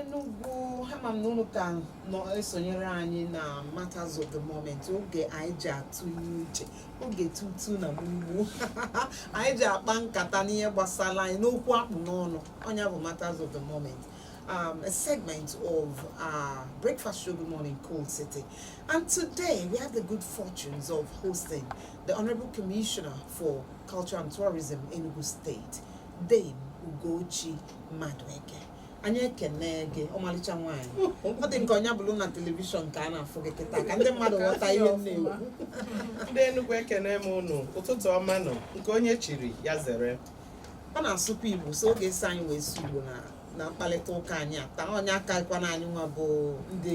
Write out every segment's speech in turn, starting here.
Enugu ama m na unu ka nọ esonyere anyị na matters of the moment oge anyị ji atụ ihe uche oge tutu na gbugbu anyị ji akpa nkata n'ihe gbasara anyị n'okwu akpụ n'ọnụ ọ nya bụ matters of the moment um, a segment of uh, breakfast show good morning Coal City and today we have the good fortunes of hosting The Honorable Commissioner for Culture and Tourism Enugu State, Dame Ugochi Madueke. anyị ekene gị ọmalịcha nwaanyị ọ dị m ka ọ nya bụrụ na telivishọn ka a na-afụ gị kịta ka ndị mmadụ ghọta ihe m na-ekwu ndị Enugu ekene m unu ụtụtụ ọma nụ nke onye chiri ya zere ọ na-asụkwa igbo so ọ ga-eso anyị wee sụọ igbo na na mkparịta ụka anyị a taa onye akakwana anyị nwa bụ ndị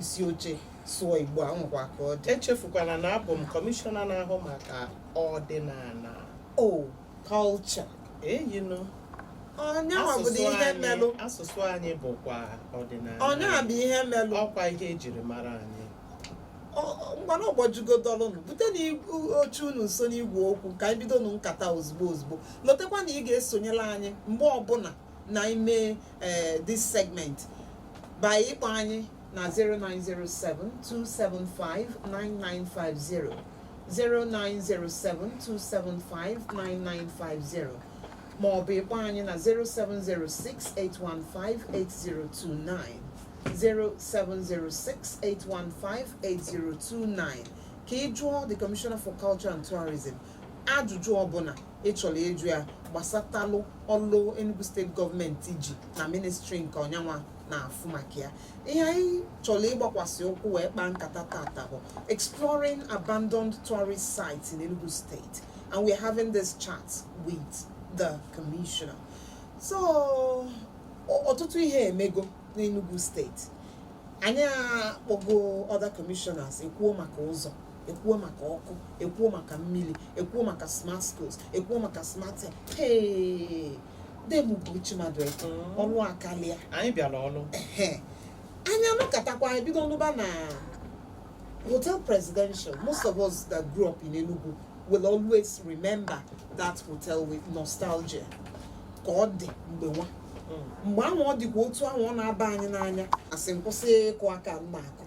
isi oche sụọ igbo a nwekwa ka ọ dị echefukwala na abụ m kọmishọna na-ahụ maka ọdịnala o culture eyinu ọ nyanwa bụ asụsụ ihe anyị melụ asụsụ anyị bụkwa ọdịnala ọ nyanwa bụ ihe melụ ọkwa ihe ejiri mara anyị ngwanụ ọ gbajugo dọlụ nụ butenụ oche unu nso n'igwe okwu ka anyị bido nụ nkata ozugbo ozugbo lotekwa na ị ga-esonyela anyị mgbe ọbụla na ime eh, this segment by ịkpọ anyị na 09072759950 09072759950 ma ọ bụ ịkpọ anyị na 07068158029 07068158029 ka ị jụọ the commissioner for culture and tourism ajụjụ ọbụla ị chọrọ ịjụ ya gbasatalụ ọlụ Enugu State government ji na ministry nke ọ nyanwa na-afụ maka ya ihe anyị chọrọ ịgbakwasị ụkwụ wee kpaa nkata taata bụ exploring abandoned tourist sites in Enugu State and we're having this chat with the commissioner so ọtụtụ ihe emego n'Enugu State anyị akpọgo other commissioners ekwuo maka ụzọ ekwuo maka ọkụ ekwuo maka mmiri ekwuo maka smart schools ekwuo maka smart Dame Ugochi Madueke mm. ọlụ akalịa anyị bịara ọlụ anyị anụkatakwa anyị bido nụba na hotel presidential most of us that grew up in Enugu will always remember that hotel with nostalgia ka ọ dị mgbe nwa mm. mgbe ahụ ọ dịkwa otu ahụ ọ na-aba anyị n'anya a sị m kwụsị ịkụ aka m na-akụ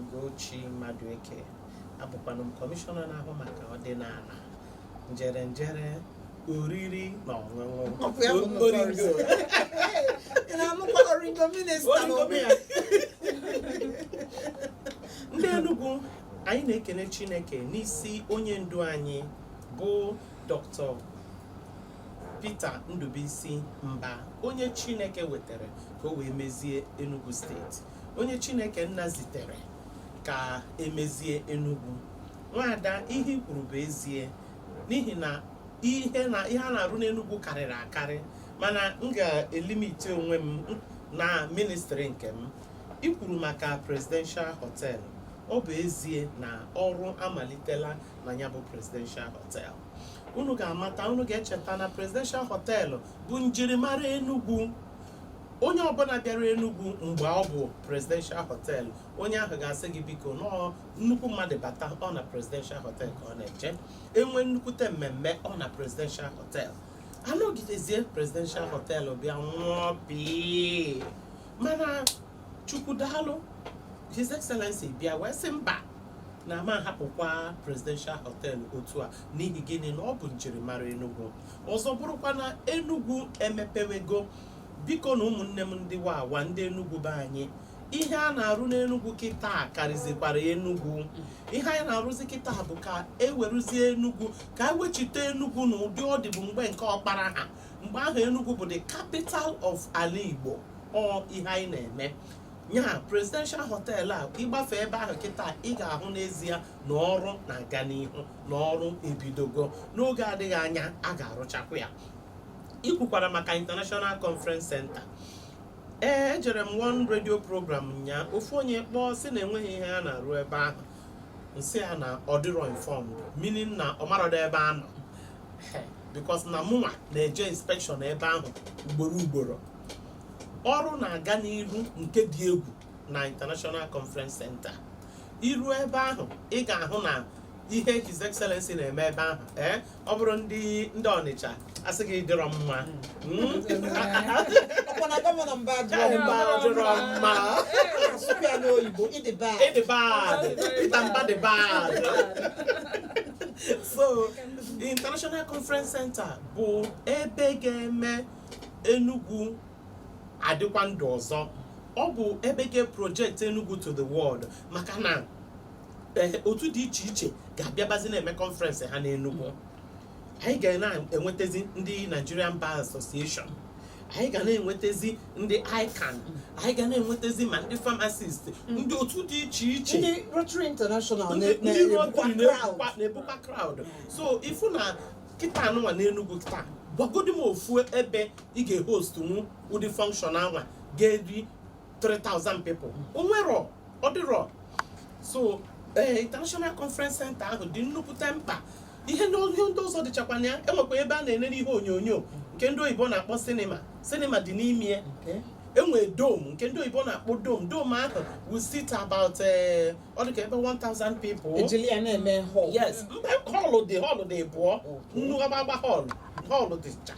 Ugochi Madueke abụkwanụ m kọmishọna na-ahụ maka ọdịnala njere njere oriri na ọṅụṅụ Ọ bụ ya bụ nnukwu Oringo. ọrụ. Ị na-anụkwa Oringo minista Oringo n'onwe ya. ndị Enugu anyị na-ekene Chineke n'isi onye ndu anyị bụ Dr. Peter Ndubuisi Mbah onye Chineke wetere ka o wee mezie Enugu steeti onye chineke nna zitere ka emezie enugwu nwaada ihe i kwuru bụ ezie n'ihi na ihe a na-arụ n'enugwu karịrị akarị mana m ga-elimite onwe m na ministri nke m i kwuru maka presidential hotel ọ bụ ezie na ọrụ amalitela na ya bụ presidential hotel unu ga-amata unu ga-echeta na presidential hotel bụ njirimara enugwu onye ọbụla bịara Enugu mgbe ọ bụ presidential hotel onye ahụ ga-asị gị biko nọọ nnukwu mmadụ bata ọ na presidential hotel ka ọ na-eje enwe nnukwute mmemme ọ na presidential hotel anọgidezie presidential hotel bịa nwụọ pii mana chukwu daalụ his excellency bịa wee sị mba na a ma ahapụkwa presidential hotel otu a n'ihi gịnị na ọ bụ njirimara Enugu ọzọ bụrụkwa na Enugu emepewego biko na ụmụnne m ndị wawa ndị Enugu be anyị ihe a na-arụ n'Enugu kịta karịzikwara Enugu ihe anyị na-arụzi kịta bụ ka eweruzie Enugu ka ewechite Enugu na ụdị ọ dịbu mgbe nke Okpara ha mgbe ahụ Enugu bụ the capital of ala Igbo ọ ihe anyị na-eme ya presidential hotel a ị gbafee ebe ahụ kịta ị ga-ahụ n'ezie na ọrụ na-aga n'ihu na ọrụ ebidogo n'oge adịghị anya a ga-arụchakwa ya i kwukwara maka International Conference Center ee ejere m one radio program nya ofu onye kpọọ sị na enweghị ihe a na-arụ ebe ahụ nsị ya na ọ dịrọ informed meaning na ọ marọdọ ebe a nọ because na mụnwa na-eje inspection ebe ahụ ugboro ugboro ọrụ na-aga n'iru nke dị egwu na International Conference Center i ruo ebe ahụ ị ga-ahụ na ihe His Excellency na-eme ebe ahụ ee eh, ọ bụrụ ndị Ọnịcha asị gị dịrọ mma hmm? so International Conference Center bụ ebe ga-eme Enugu adịkwa ndụ ọzọ ọ bụ ebe ga-eprojekt Enugu to the world maka na eh, otu dị iche iche ga-abịabazi na-eme kọnferensị ha n'Enugu anyị ga na-enwetazi ndị Nigerian Bar Association anyị ga na-enwetazi ndị ICAN anyị ga na-enwetazi ma ndị pharmacist ndị otu dị iche iche ndị Rotary International ndị na- ndị na-ebukwa Rotary crowd. na-ebukwa na-ebukwa crowd so ị fụ na kịta anụnwa n'Enugu kịta gwagodi m ofu ebe ị ga-ehostnwu ụdị function anwa ga-eri 3000 people o nwerọ ọ dịrọ so ee international conference center ahụ dị nnukwute mkpa ihe na ihe ndị ọzọ dịchakwa na ya enwekwa ebe a na-enere ihe onyonyo nke ndị oyibo na-akpọ sinima sinima dị n'ime ya Okay. e nwere dome nke ndị oyibo na-akpọ dome dome ahụ will sit about eh, ọ dịka ebe 1000 people E jili ya na-eme hall. yes mba họlụ dị họlụ dị ịbụọ Okay. nnukwu agbagba họlụ họlụ dịcha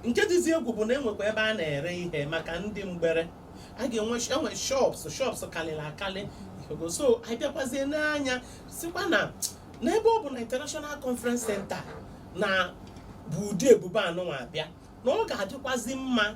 nke dịzi egwu bụ na enwekwa ebe a na-ere ihe maka ndị mgbere a ga-enwe enwe shops shops kalịrị akalị Ogo. so anyị bịakwazie nee anya sịkwa na n'ebe ọ bụ na international conference center na-ebu ụdị ebube anụnwa abịa na ọ ga-adịkwazi mma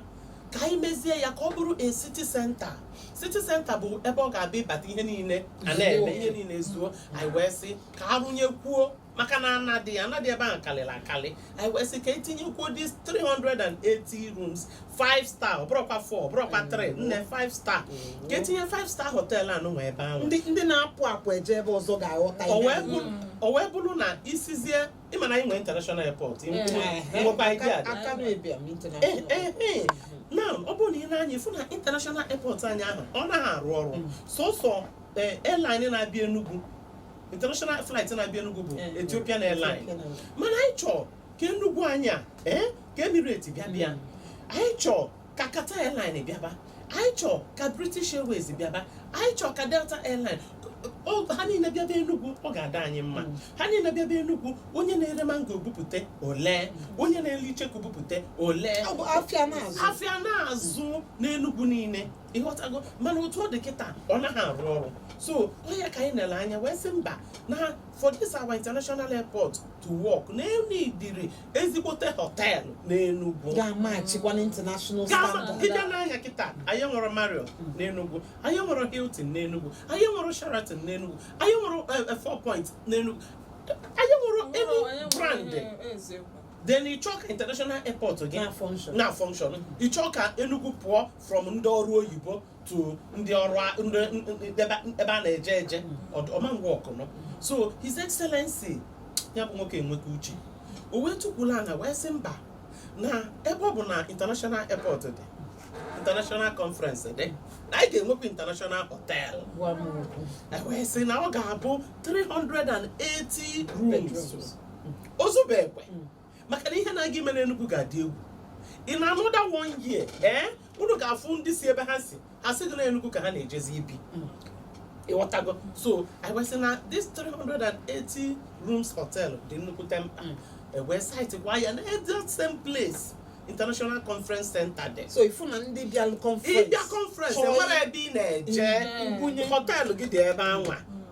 ka anyị mezie ya ka ọ bụrụ a city center city center bụ ebe ọ ga-abụ ị bata ihe niile a na-eme ihe niile zuo anyị wee sị ka a rụnyekwuo maka na ana dị ana dị ebe ahụ kalịrị akalị anyị wee sị ka etinyekwuo this 380 rooms 5 star ọ bụrọkwa 4 ọ bụrọkwa 3 nne 5 star ka etinye 5 star hotel anụnwa ebe ahụ ndị ndị na-apụ apụ eje ebe ọzọ ga-aghọta o ihe wee bụ- o wee bụrụ na isizie ị ma na anyị nwere international airport Mm. nwekwa idea dị Akanu Ibiam international Eh, eh, eh. now ọ bụrụ na ị nee anya ị fụ na international airport anyị ahụ ọ naghị arụ ọrụ sọsọ eh, airline na-abịa Enugu international flight na-abịa Enugu bụ Eh, Ethiopian Airlines Ethiopian Airlines. mana anyị chọọ ka Enugu anyị a eh, ka Emirates bịaba anyị chọọ ka Qatar Airlines bịaba anyị chọọ ka British Airways bịaba anyị chọọ ka Delta Airlines O- ha niile bịaba Enugu ọ ga-adị anyị mma Mm. ha niile bịaba Enugu onye na-ere mango bupụta o lee onye na-ere icheku bupụta o lee Ọ bụ afịa na-azụ. afịa na-azụ n'Enugu niile ị ghọtago mana otu ọ dị kịta ọ naghị arụ ọrụ so ọ nya ka anyị nere anya wee sị mba na for this our international airport to work na e needịrị ezigbote họteelụ n'enugwu ga-amatchikwa na international Gaa ma- standard gị bịa nee anya kịta anyị nwere Marriott n'enugwu anyị nwere Hilton n'enugwu anyị nwere Sheraton n'enugwu anyị nwere eh, eh, Four Points n'enugwu anyị nwere any brand then ị chọọ ka international airport gị na function na function ị chọọ ka Enugu pụọ from ndị ọrụ oyibo to ndị ọrụ ebe a na-eje eje ọmangwa ọkụnọ so his excellency ya bụ nwoke enweka uche o wee tukwula anya wee sị mba na ebe ọ bụ na international airport dị international conference dị na anyị ga-enwekwa international hotel wee sị na ọ ga-abụ 380 rooms ozubekwe hmm. maka na ihe na-aga ime n'Enugu ga-adị egwu in another one year ee eh? unu ga-afụ ndị si ebe ha si ha sị gị na Enugu ka ha na-ejezi ibi hmm. ị ghọtago so I was na this 380 rooms hotel dị nnukwute mkpa hmm. e wee site kwa ya na that same place international conference center dị so ị fụ na ndị bịa conference ị bịa conference e nwere ebe ị na-eje hmm. hotel gị dị ebe anwa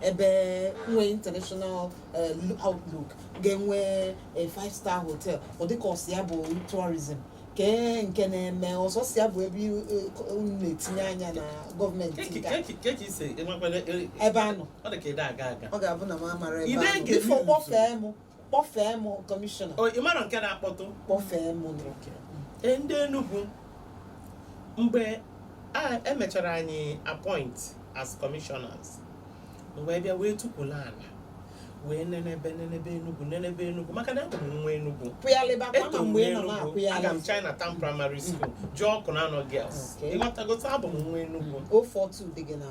ebe nwee international eh, outlook ga-enwe eh, five star hotel ọ dịka ọsị ya bụ tourism kee nke na-eme ọ sọsọ ya bụ ebe i- eh, unu na-etinye anya na gọọmenti Keki- nke a. keki- kee ka i si enwekwala- e- ebe a nọ ọ dị ka ide aga aga ọ ga-abụ na m amara ebe Ide ahụ. nke Before kpọfee m kpọfee m kọmishọna O, ị mara nke na-akpọtụ kpọfee m nụ. Ee, ndị Enugu mgbe e mechara anyị appoint as commissioners wee bịa wee tukwula ala wee nenebe nenebe Enugu nenebe Enugu maka na abụ m nwa Enugu kwụyalịbakwa ma Eto mgbe ị nọ Enugu, na-akwụyalị aga m Chinatown Primary School jee Awkunanaw Girls Okay. ị ghọtago abụ m nwa Enugu 042 dị gị na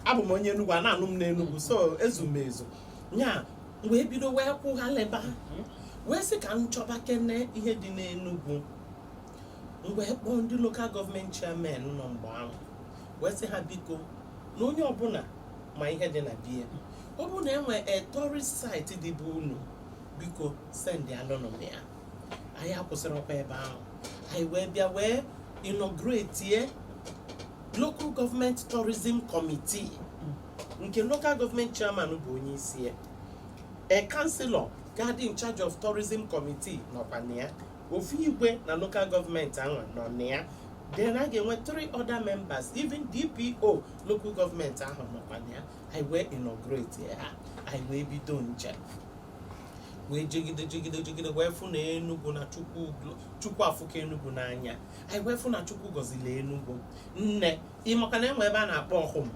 abụ m onye Enugu a na-anụ m n'Enugu so ezu m ezu nya m wee bido wee kwụghalịba wee sị ka m chọbakene ihe dị n'Enugu m wee kpọọ ndị lokal gọọmenti chairman nọ mgbe ahụ wee sị ha biko na onye ọbụla ma ihe dị na be ya ọ bụrụ na enwe a tourist site dị be unu biko send alụnụ m ya anyị akwụsịrọkwa ebe ahụ anyị wee bịa wee inaugurate local government tourism committee nke local government chairman bụ onye isi ya a councillor ga-adị in charge of tourism committee nọkwa na ya ofu igwe na local government ahụ nọ na ya then a ga-enwe three other members even dpo local government ahụ nọkwa na ya anyị wee inaugurate ha anyị wee bido njem wee jegide jegide jegide wee fụ na Enugu na Chukwu Chukwu afụka Enugu n'anya anyị wee fụ na Chukwu gọzili Enugu nne ị makwa na enwe ebe a na-akpọ ọhụm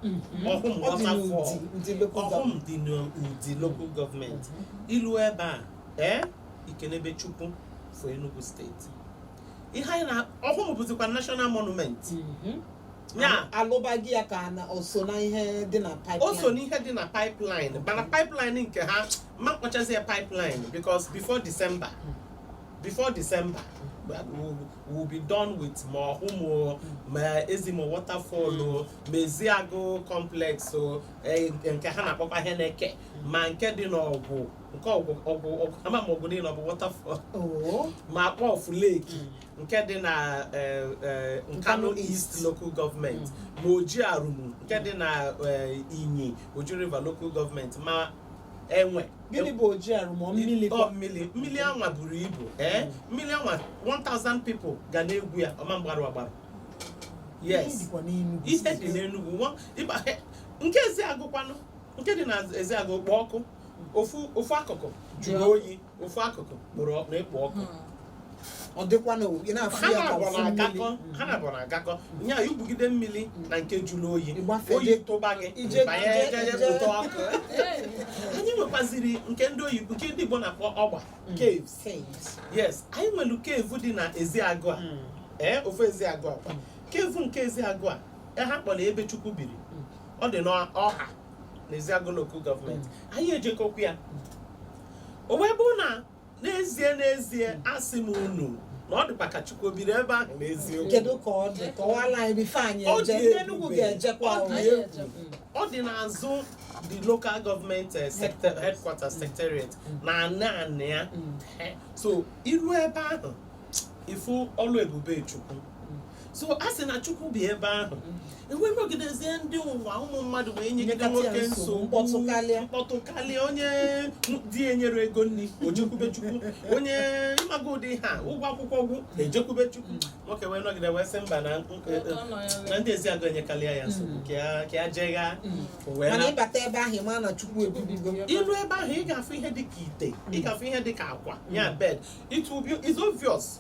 Mhm. ọhụm Ọ dị waterfall n'Udi, Udi local ọhụm government. dị n'Udi local gọọmenti i lu ebe a ee i kenebe Chukwu for Enugu steeti ihe anyị na Ọhụm bụzikwa national monument mhm. ya alụbaghị ya ka na o so na ihe dị na pipeline o so n'ihe dị na pipeline mana pipeline nke ha ma kpọchazi ya pipeline because before December mm. before December we'll be done with ma Ọhụm ma Ezimo waterfall mm. ma Eziagụ complex e, nke ha na-akpọkwa Iheneke mm. ma nke dị n'Ọgwụ nke Ọgwụ Ọgwụ Ọgwụ ama m Ọgwụ niile ọ bụ waterfall oo ma Akpọfụ lake nke dị na eh, eh, nkanu Nkanu east East. local government ma Oji Arumu nke dị na eh, Inyi Oji River local government ma enwe gịnị bụ Oji Arumu mmiri Ọ, mmiri mmiri anwa buru ibu ee mmiri anwa 1000 people ga na-egwu ya ọ ma mgbarụ agbarụ yes dịkwa n'Enugu ihe dị n'Enugu nwa- ịgba- nke Eziagụkwanụ nke dị na Eziagụ kpọ ọkụ ofu ofu akụkụ jụrụ Jụọ. oyi ofu akụkụ kpọrọ ọ- na-ekpo ọkụ ọ dịkwa na ị na-afụ ha ya ka naabọ ofu na-agakọ mmiri ha naabọ na-agakọ nya i gwugide mmiri na nke jụrụ oyi Ịgbafe oyi gị. tụba gị Ije banye ije eje ije. pụta ọkụ anyị nwekwaziri nke ndị oyibo nke ndị Igbo na-akpọ ọgba caves Caves. yes anyị nwere cave dị na Eziagụ a ee ofu Eziagụ a kwa cave nke Eziagụ a e ha kpọrọ ebe Chukwu biri ọ dị n'Ọwa n'Eziagụ Local Government anyị ejegokwa ya o wee bụrụ na n'ezie n'ezie asị m unu na ọ dịkwa ka Chukwu biri ebe ahụ n'eziokwu kedu ka ọ dị kọwala anyị before anyị Ọ eje dị ndị Enugu ebube. ga-ejekwa Ọ dị ahụ. egwu. ọ dị n'azụ the local government eh, sector headquarter secretariat na anị anị ya Eh, so i ru ebe ahụ ị fụ ọlụ ebube Chukwu so a sị na Chukwu bi ebe ahụ e wee nọgidezie ndị ụwa ụmụ mmadụ wee nyegide Nyekata ya nwoke nsogbu, nsogbu mkpọtụ karịa. mkpọtụ karịa onye di enyere ego nri o jekwube Chukwu onye ịmaga ụdị ha ụgwọ akwụkwọ gwụ e jekwube Chukwu nwoke wee nọgide wee sị mba na Ụtọ nọ ya na wee- ndị Eziagụ enyekarịa ya nsogbu ka ya- ka ya jegha o wee mana na- ịbata ebe ahụ ị mara na Chukwu ebibigo i lu ebe ahụ ị ga-afụ ihe dị ka ite ị ga-afụ ihe dị ka akwa ya bed it will be it's obvious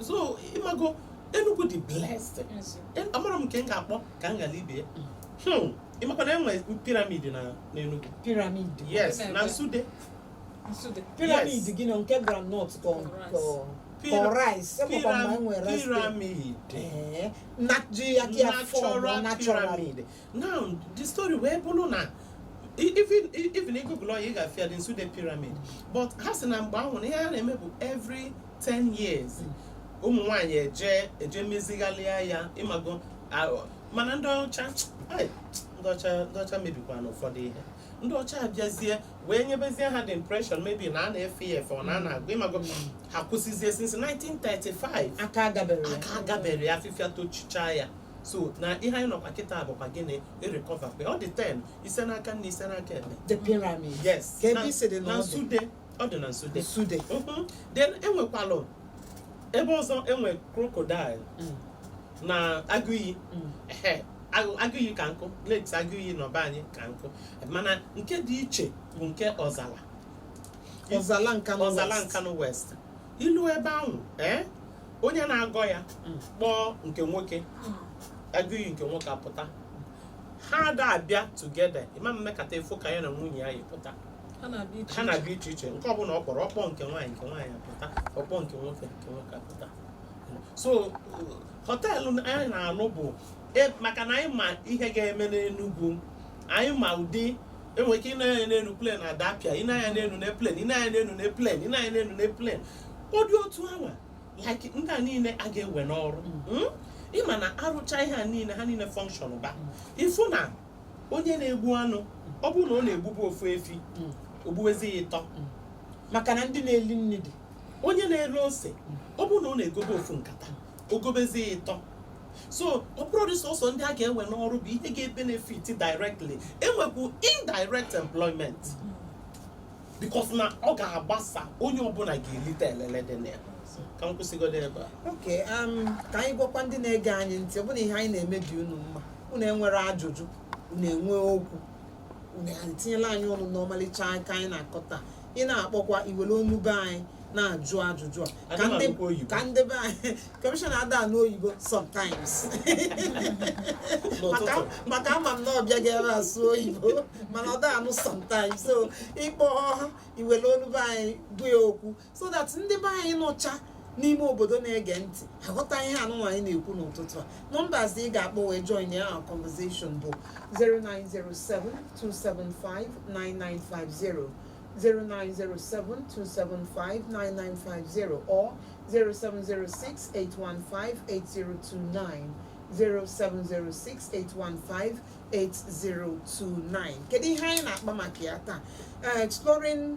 so ịmago Enugu dị blessed amaro m nke m ga-akpọ ka m ghara ibe ya hmm, ịmakwa na e nwe pyramid na n'Enugu pyramid yes na Nsude pyramid gịnị nke groundnut ka rice pyramid na ji aka ya form naturally now the story wee bụrụ na even even ị google ya ị ga-afụ ya the Nsude pyramid but ha sị na mgbe ahụ na ihe a na-eme bụ every 10 years ụmụ nwaanyị eje eje mezigharịa ya ịmago mana ndị ọcha ndị ọcha ndị ọcha mebikwa na ụfọdụ ihe ndị ọcha abịazie wee nyebezie ha the impression maybe na a na-efe ya efe ọ na a na-agọ ịmago ha kwụsịzie since 1935 aka agabero ya afịfịa tochicha ya so na ihe anyị nọkwa kịta bụkwa gịnị irecover mgbe ọ dị 10 ise n'aka nni ise n'aka ekpe the pyramid yes kee ebe ị sịdị na ọ dị nsude ọ dị na nsude nsude Mhm. then enwekwalụ ebe ọzọ enwe crocodile Mm. na agụiyi Mm. ehe agụ- agụiyi ka nkụ lakes agụiyi na be anyị ka nkụ mana nke dị iche bụ nke ọzala ọzala nka ọzala Nkanu West i lu ebe ahụ ee onye na-agọ ya Mm. kpọọ nke nwoke agụiyi nke nwoke apụta ha ada abịa together ị ma emekata afụ ka ya na nwunye ya yi pụta Ha na-abịa iche ha iche. na-abịa iche iche nke ọbụla ọ kpọrọ ọ kpọọ nke nwaanyị nke nwaanyị apụta ọ kpọọ nke nwoke nke nwoke apụta so họteelụ anyị na-alụ bụ e- maka na anyị ma ihe ga-eme n'Enugwu anyị ma ụdị enwere ike ịnanya n'elu plen adapịa ịnanya n'elu na plen ịnanya n'elu na plen ịnanya n'elu na plen ụdị otu anwa like ndị a niile a ga-ewe n'ọrụ hmm? ịma na arụcha ihe a niile ha niile fọnkshọn ba ịfụ na onye na-egbu anụ ọ bụrụ na ọ na-egbubu ofu efi hmm. ogbuwezi ya ịtọ hmm. maka na ndị na-eli nri dị onye na-ere ose ọ bụrụ na ọ na-egobe ofu nkata o gobezie ịtọ so ọ bụrọdị sọsọ ndị a ga-ewe n'ọrụ bụ ihe ga-ebenefit directly enwekwu indirect employment because na ọ ga-agbasa onye ọbụla ga-elite elele dị na ya ka m kwụsịgodo ebe a ok um, ka anyị gwakwa ndị na-ege anyị ntị ọ bụrụ na ihe anyị na-eme dị unu mma unu enwere ajụjụ unu enwe okwu unu etinyelụ anyị ọnụ n'ọmalịcha ụka anyị na-akọ taa ị na-akpọkwa i were onu be anyị na-ajụ ajụjụ a ka ndị ka ndị be anyị commissioner ada anụ oyibo sometimes maka ama m na ọbịa ga-ebe asụ oyibo mana ọ da anụ sometimes so ị kpọọ i were onu be anyị gwa ya okwu so that ndị be anyị nọcha n'ime obodo na-ege ntị aghọta ihe anụnwa anyị na-ekwu n'ụtụtụ a numbers ị ga-akpọ wee joinịa our conversation bụ 09072759950 09072759950 or 07068158029 07068158029 kedu ihe anyị na-akpa maka ya taa exploring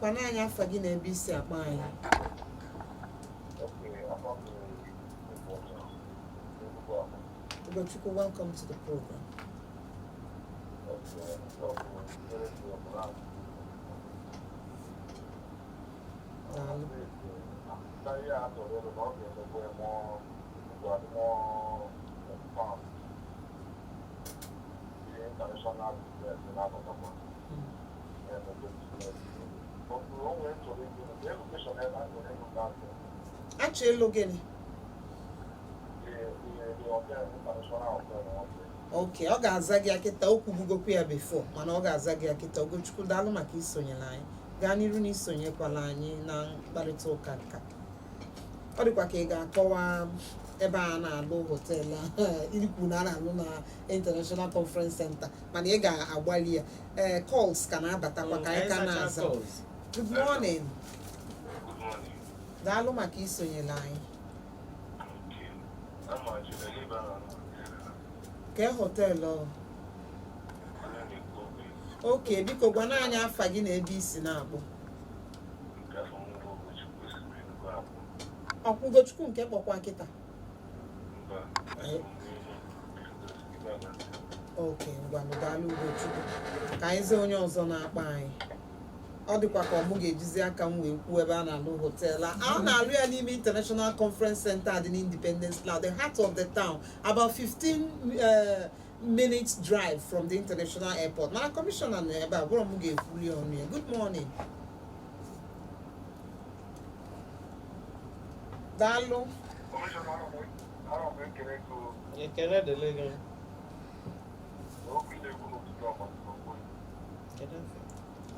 gwana anyị afa gị na ebe i si akpọ anyị Ugochukwu, welcome to the program. Daalụ. a chọ ịlụ gịnị ok ọ ga-aza gị akịta o kwubugokwa ya before mana ọ ga-aza gị akịta Ugochukwu daalụ maka isonyere anyị gaa n'iru na isonyekwala anyị na mkparịta ụka nka ọ dịkwa ka ị ga-akọwa ebe a na-alụ hotel ikwu na a na-alụ na international conference center mana ị ga-agbalị ya ee calls ka na-abatakwa ka anyị ka na-aza good morning daalụ maka isonyere anyị kee họteelụ ọ? okay biko gwana anyị afa gị na ebe i si na-akpọ Ugochukwu nke kpọkwa kịta okay ngwanụ daalụ Ugochukwu ka anyị zie onye ọzọ na-akpọ anyị ọ dịkwa ka ọ mụ ga-ejizi aka m wee kwuo ebe a na-alụ hotelu a na-alụ ya n'ime International Conference Center dị n'Independence Layout the heart of the town about 15 eh, minutes drive from the international airport mana kọmishọna nọ ebe a ọ bụrọ m ga-ekwulu ọnụ ya good morning daalụ ekele dịrị gị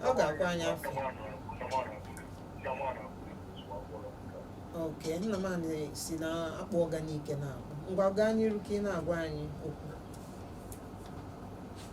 ọ ga-agwa anyị afa okay Nnamani si na Akpụọga Nike na-akpọ ngwa gaa n'iru ka ị na-agwa anyị okwu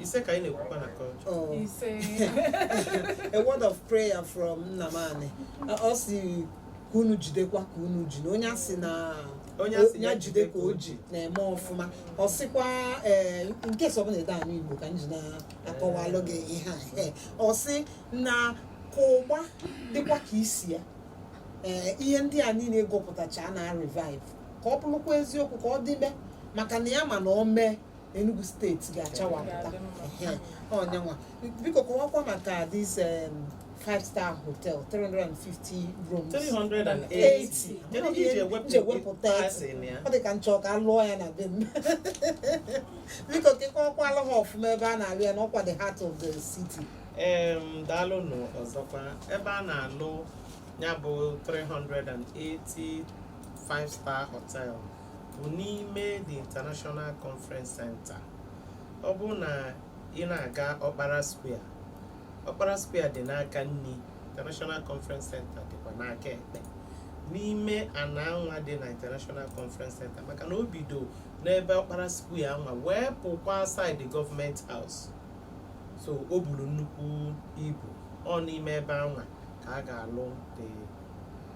ise ka anyị na-ekwukwa na culture Oh. ise a word of prayer from Nnamani. Ọ sị ka unu jidekwa ka unu ji na onye a sị na Onye a sị ya ya jide ka o ji na-eme ọfụma ọ sịkwa ee nke sọ bụla ede anụ igbo ka m ji na-akọwalụ gị ihe a ee ọ sị na ka ụgba dịkwa ka isi ya ee ihe ndị a niile gụpụtacha na a revive ka ọ bụrụkwa eziokwu ka ọ dịbe maka na ya ma na o mee Enugu steeti ga-achawapụta onye anwa biko kọwakwa maka this um, five star hotel 350 rooms 380 Kedu ihe e ji ewepụ- nje wepụta Asị na ya. ọ dị ka m chọ ka a lụọ ya na be m biko kekọkwala ha ọfụma ebe a na-alụ ya na ọ kwa the heart of the city Em, daalụnụ ọzọkwa ebe a na-alụ ya bụ 380 five star hotel bụ n'ime the International Conference Center ọ bụ na ị na-aga Okpara Square Okpara Square dị n'aka nni International Conference Center dịkwa n'aka ekpe n'ime ana anwa dị na International Conference Center maka na o bido n'ebe Okpara Square anwa wee pụkwa side Government House so o bulu nnukwu ibu ọ n'ime ebe anwa ka a ga-alụ the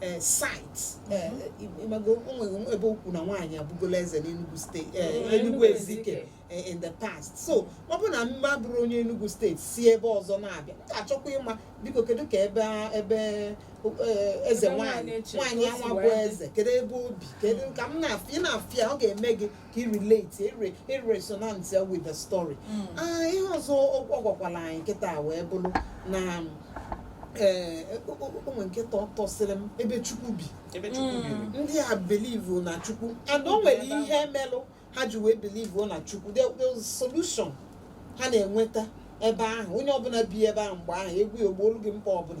eh, site eh, ịmago o nwe ebe o kwu na nwaanyị abụgola eze n'Enugu steeti eh, Onye Enugu Enugu Ezike Ezike. eh, in the past so ọ bụrụ na m abụrọ onye Enugu steeti si ebe ọzọ na-abịa m ga-achọkwa ịma biko kedu ka ebe a- ebe eh, eze Ebe nwaanyị nwaanyị eche nwaanyị ka o si anwa bụ wee dị. eze kedu ebe o bi kedu ka m na-afụ ya ị na-afụ ya ọ ga-eme gị ka i relate ere- eresonate ya with the story Mm. Ah, ihe ọzọ ọ ọ gwakwala anyị kịta wee bụrụ na ee o nwe nke tọ- tọsịrị m ebe chukwu bi ebe chukwu Mm. biri ndị a believe na chukwu and o nwere ihe melụ ha ji wee believe na chukwu There- there was solution ha na-enweta ebe ahụ onye ọbụla bịa ebe ahụ mgbe ahụ egwu ya o gboolu gị mkpa ọbụla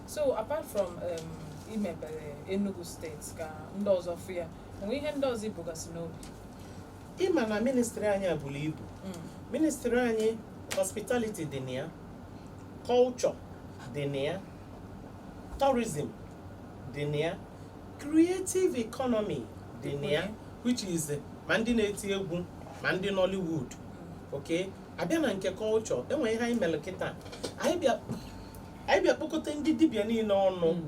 so apart from um, imebere Enugu steeti ka ndị ọzọ fụ ya e nwe ihe ndị ọzọ i bugasị n'obi ị ma na ministry anyị a buru ibu Mm. ministry anyị hospitality dị na ya culture dị na ya tourism dị na ya creative economy dị na ya which is eh, ma ndị na-eti egwu ma ndị nollywood okay a bịa na nke culture e nwere ihe anyị mere kịta anyị bịa anyị bịa kpọkọta ndị dibịa niile ọnụ mm.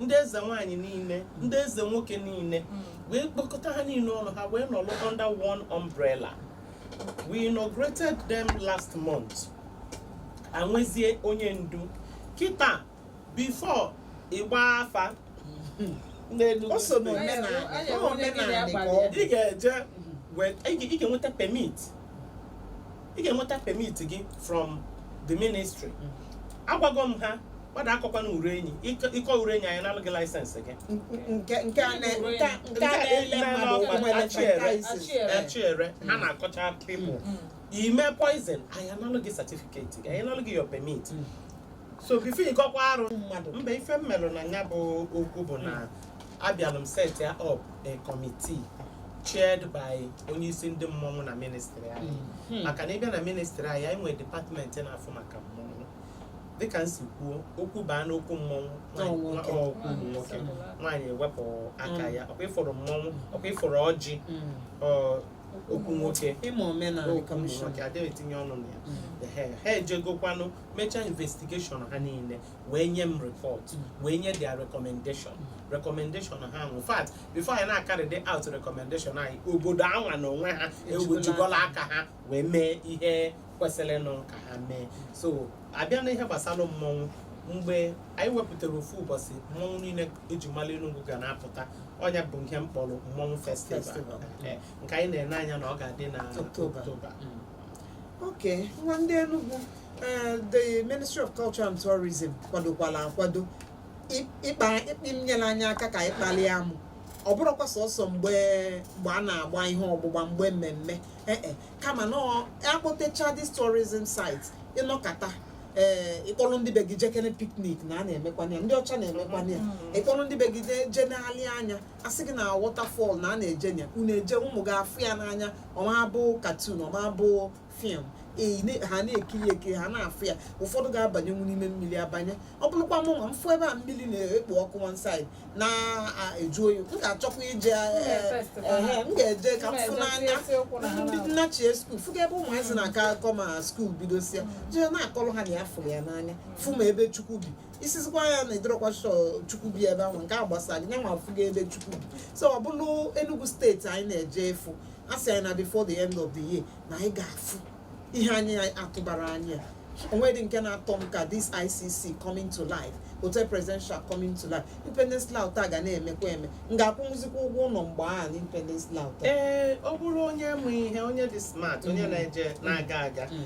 ndị eze nwaanyị niile ndị eze nwoke niile mm. wee kpọkọta ha niile ọnụ ha wee nọrọ under one umbrella we inaugurated them last month ha enwezie onye ndu kịta before ị gba afa mm. o so n'omenala ị ga-eje ị ga-enweta permit ị ga-enweta permit gị from the ministry agwago m ha mmadụ akọkwana ure enyi ị kọ ị kọ ure enyi anyị analụ gị license gị nke nke a na- nke a- nke a na-ele mmadụ ụkwụ nwere franchises. Acha ere. acha ere ha na-akọcha people i me poison anyị analụ gị certificate gị anyị analụ gị your permit so before ịgọkwa arụ mmadụ mba ife m melụ na ya bụ okwu bụ na abịalụ m setịa up a committee chaired by onye isi ndị mmọnwụ na ministry anyị maka na ị bịa na ministry anyị anyị nwere department na-afụ maka mmọnwụ dịka m si kwuo okwu baa n'okwu mmọnwụ nwaanyị- Ọ nwoke. ọ okwu ụmụ nwoke nwaanyị ewepụ aka ya ọkwa ị fụrụ mmọnwụ ọkwa ị fụrụ ọjị ọ, okwu nwoke ị ma omenala okwu ụmụ commission nwoke adịghị etinye ọnụ na ya Ehe, ha ejegokwanụ mechaa investigation ha niile wee nye m report wee nye their recommendation recommendation ha in fact before anyị na-akarịdị out recommendation anyị obodo anwa na onwe ha ewejigola aka ha wee mee ihe kwesịrịnụ ka ha mee so a bịa na ihe gbasara mmọnwụ mgbe anyị wepụtara ofu ụbọchị mmọnwụ niile e ji mara Enugu ga na-apụta ọ nya bụ ihe m kpọrọ mmọnwụ festival Festival. Eh, nke anyị na-ene anya na ọ ga-adị na October. October Mm. okay nwa ndị Enugu eh, the Ministry of Culture and Tourism kwadokwala akwado ị- ịkpa ịkpị inyere anyị aka ka anyị kpalie amụ ọ bụrọkwa sọsọ mgbe mgbe a na-agba ihe ọgbụgba mgbe mmemme ee e, kama na ọ- a kpọtecha this tourism site ị nọkata ee ị kpọrọ ndị be gị jekene picnic na a na-emekwana ya ndị ọcha na-emekwana ya ị kpọrọ ndị be gị jee- jee na-alị anya a sị gị na waterfall na a na-eje nya unu eje ụmụ gị afụ ya n'anya ọ ma-abụ cartoon ọ ma-abụ film ha na-ekiri ekiri ha na-afụ ya ụfọdụ ga-abanyenwu n'ime mmiri abanye ọ bụrụkwa mụ nwa m fụ ebe a mmiri na-ekpo ọkụ one side na-eju oyi m ga-achọkwa ije eh, eh, m ga-eje ka m fụ n'anya ndị nnachie school fụga ebe ụmụazị na-aka akọ ma school bidosia jee na-akọrọ ha na ya fụrụ ya n'anya fụ ma ebe Chukwu bi ị sịzikwa ya na ị dịrọkwa sure Chukwu bi ebe ahụ nke a gbasara gị nyanwa afụgo ebe Chukwu bi so ọ bụrụ Enugu steeti anyị na-eje ịfụ a sị anyị na before the end of the year na anyị ga-afụ ihe anyị atụbarọ anya o nwedị nke na-atọ m ka this ICC coming to life Hotel Presidential coming to life Independence Layout a ga na-emekwa eme m ga-akwụnwụzikwa ụgwọ ụlọ mgbe a na Independence Layout ee ọ bụrụ onye mụ ihe onye dị smart onye mm. na-eje na-aga aga mm.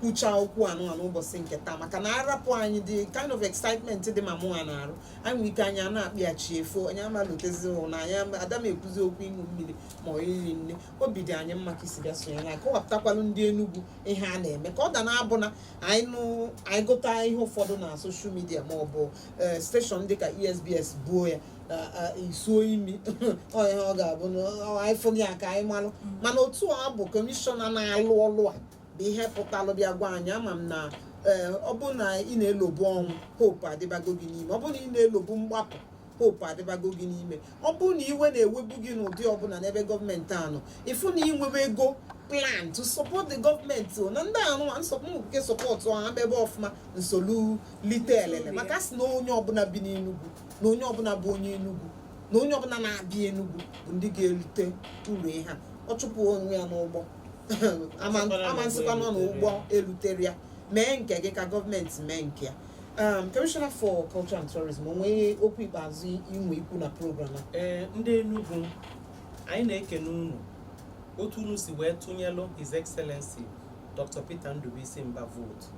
kwuchaa okwu anụnwa n'ụbọchị nke taa maka na a rapụ anyị the kind of excitement dị ma mụnwa n'arụ anyị nwere ike anyị a na-akpị a chi efo anyị amalutezi na anyị ama- ada m ekwuzi okwu ịṅụ mmiri ma ọ iri nni obi dị anyị mma ka i si bịa sonye na-akọwapụtakwalụ ndị Enugu ihe a na-eme ka ọ da na-abụ na anyị nụ anyị gụta ihe ụfọdụ na social media ma ọ bụ station dịka ESBS buo ya isuo imi onye ọ ga-abụ na anyị fụghị ya ka anyị malụ mana otu ọ bụ kọmishọna na-alụ ọlụ a bụ ihe pụtalụ bịa gwa anyị ama m na ee ọ bụrụ na ị na-elobu ọnwụ hope adịbago gị n'ime ọ bụrụ na ị na-elobu mgbapụ hope adịbago gị n'ime ọ bụrụ na iwe na-ewebu gị n'ụdị ọbụla n'ebe gọọmenti a nọ ị fụ na i nwebego plan to support the government o, na ndị ahụ ma nsọpụ nke sọpọtụ ha ebe ọfụma m solu lite elele maka sị na onye ọbụla bi n'Enugu na onye ọbụla bụ onye Enugu na onye ọbụla na-abịa Enugu bụ ndị ga-erute uru ihe a ọ chụpụ onwe ya n'ụgbọ ama asịkwanụ na ụgbọ eruterọ ya mee nke gị ka gọọmenti mee nke ya um, Commissioner for Culture and Tourism o nwe okwu ikpeazụ i nwe ikwu na program a ee ndị Enugu anyị na-ekene unu otu unu si wee tụnyelụ His Excellency Dr. Peter Ndubuisi Mbah vootu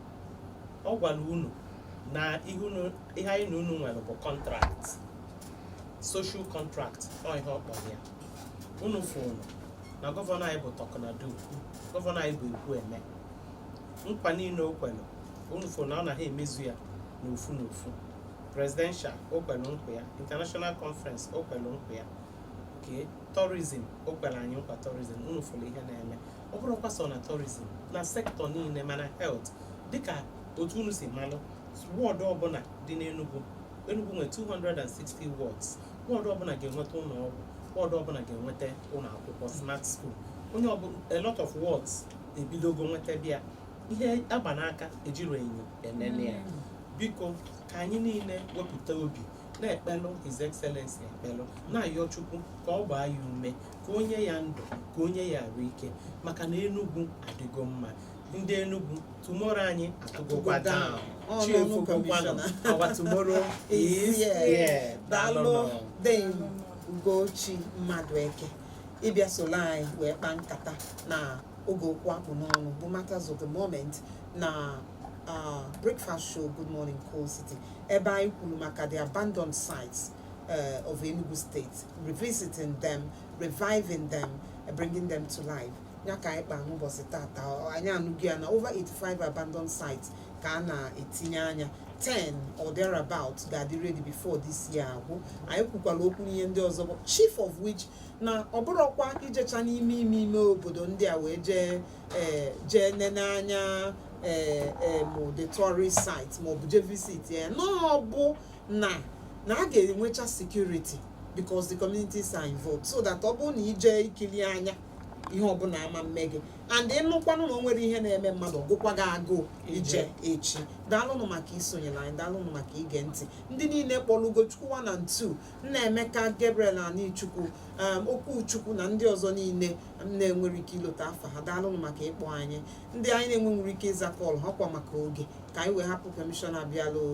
ọ gwara unu na ihe unu- ihe anyị na unu nwere bụ contract social contract ọ ihe ọ kpọrọ ya unu fụrụ na gọvanọ anyị bụ talk na do gọvanọ anyị bụ ekwu eme nkwa niile o kwere unu fụrụ na ọ na-aga emezu ya n'ofu n'ofu presidential o kwere nkwa ya international conference o kwere nkwa ya okay tourism o kwere anyị nkwa tourism unu fụrụ ihe na-eme ọ bụrọkwa sọ na tourism na sektọ niile mana health dịka otu unu si malụ wọdụ ọbụla dị n'Enugwu Enugwu nwere 260 wards wọdụ ọbụla ga-enweta ụlọ ọgwụ wọdụ ọbụla ga-enweta ụlọ akwụkwọ smart school onye ọbụla a lot of wards ebidogo nwetabe ya ihe a gba n'aka ejirọ enyo enene ya mm. biko ka anyị niile wepụta obi na-ekpelu His Excellency ekpele na-ayọ Chukwu ka ọ gbaa ya ume ka o nye ya ndụ ka o nye ya arụ ike maka na Enugu adịgo mma ndị Enugu tomorrow anyị atụgokwa down chi efokwakwanụ our tomorrow is here daalụ Dame Ugochi Madueke ịbịa solo anyị wee kpaa nkata na oge okwu a kpụ n'ọnụ bụ matters of the moment na uh, breakfast show good morning coal city ebe anyị kwuru maka the abandoned sites uh, of Enugu State revisiting them reviving them bringing them to life ya ka anyị kpaa n'ụbọchị tata anyị anụgo ya na over 85 abandoned sites ka a na-etinye anya 10 or thereabout ga-adị ready before this year agwụ anyị kwukwara okwu n'ihe ndị ọzọ bụ chief of which na ọ bụrụkwa i jecha n'ime ime ime obodo ndị a wee jee eh, jee nene anya eh, eh, ma the tourist site ma ọ bụ jee visit ya na ọ bụ na na a ga-enwecha security because the communities are involved so that ọ bụrụ na i je ikili anya ihe ọbụla ama mme gị and ịnụkwanụ na o nwere ihe na-eme mmadụ ọ gụkwa gị agụụ ije echi daalụnụ maka isonyere anyị daalụnụ maka ige ntị ndị niile kpọrọ ugochukwu one and two nnaemeka gabriel anichukwu um, okwuchukwu na ndị ọzọ niile m na-enwere ike ilota afa ha daalụnụ maka ịkpọ anyị ndị anyị na-enwe nwere ike ịza kọl ha kwa maka oge ka anyị wee hapụ kọmishọna bịalụ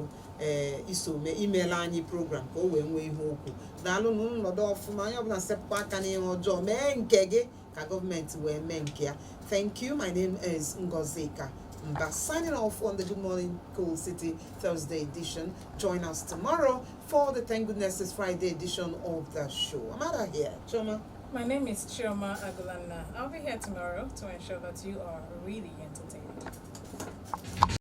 ee iso mee imeela anyị program ka o wee nwee ihe okwu daalụnụ nọdụ ọfụma onye ọbụla sepụkwa aka n'ihe ọjọọ mee nke gị ka gọọmenti wee mee nke ya thank you my name is ngozika mba signing off on the good morning coal city thursday edition join us tomorrow for the thank goodness it's friday edition of the show i'm out of here chioma My name is Chioma Agulanna. I'll be here tomorrow to ensure that you are really entertained.